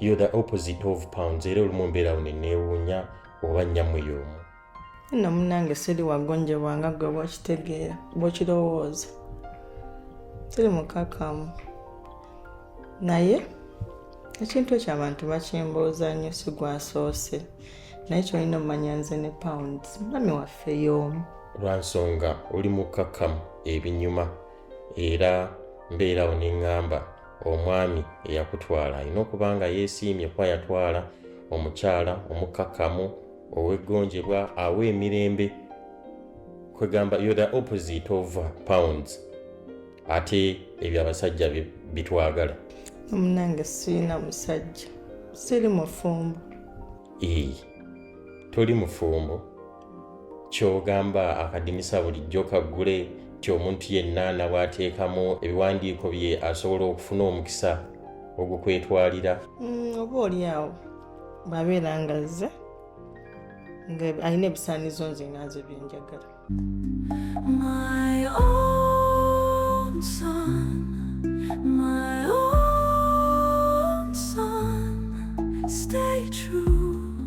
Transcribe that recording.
yo the opposite of pounds era olumu mbeerawo neneewuunya oba nnyamwe y'omu nno munange siri wagonjebwa nga gwe bwokitegeera bwokirowooza tiri mukakamu naye ekintu ekyo abantu bakimbuuza nnyo si gwasoose naye kyolina omumanya nze ne pounds mami waffe y'omu lwansonga oli mukakamu ebinyuma era mbeerawo neŋŋamba omwami eyakutwala alina okuba nga yeesiimye kuba yatwala omukyala omukkakkamu ow'eggonjebwa awa emirembe kwegamba yo the opposite of pounds ate ebyo abasajja bitwagala omunange sirina musajja siri mufumbo ee toli mufumbo kyogamba akadinisa bulijjo kaggule nti omuntu yenna nabwateekamu ebiwandiiko bye asobola okufuna omukisa ogukwetwalira mm, oba oli awo bwabeera nga zze nga alina ebisaanizo nze nganze byenjagala My own son, my own son, stay true.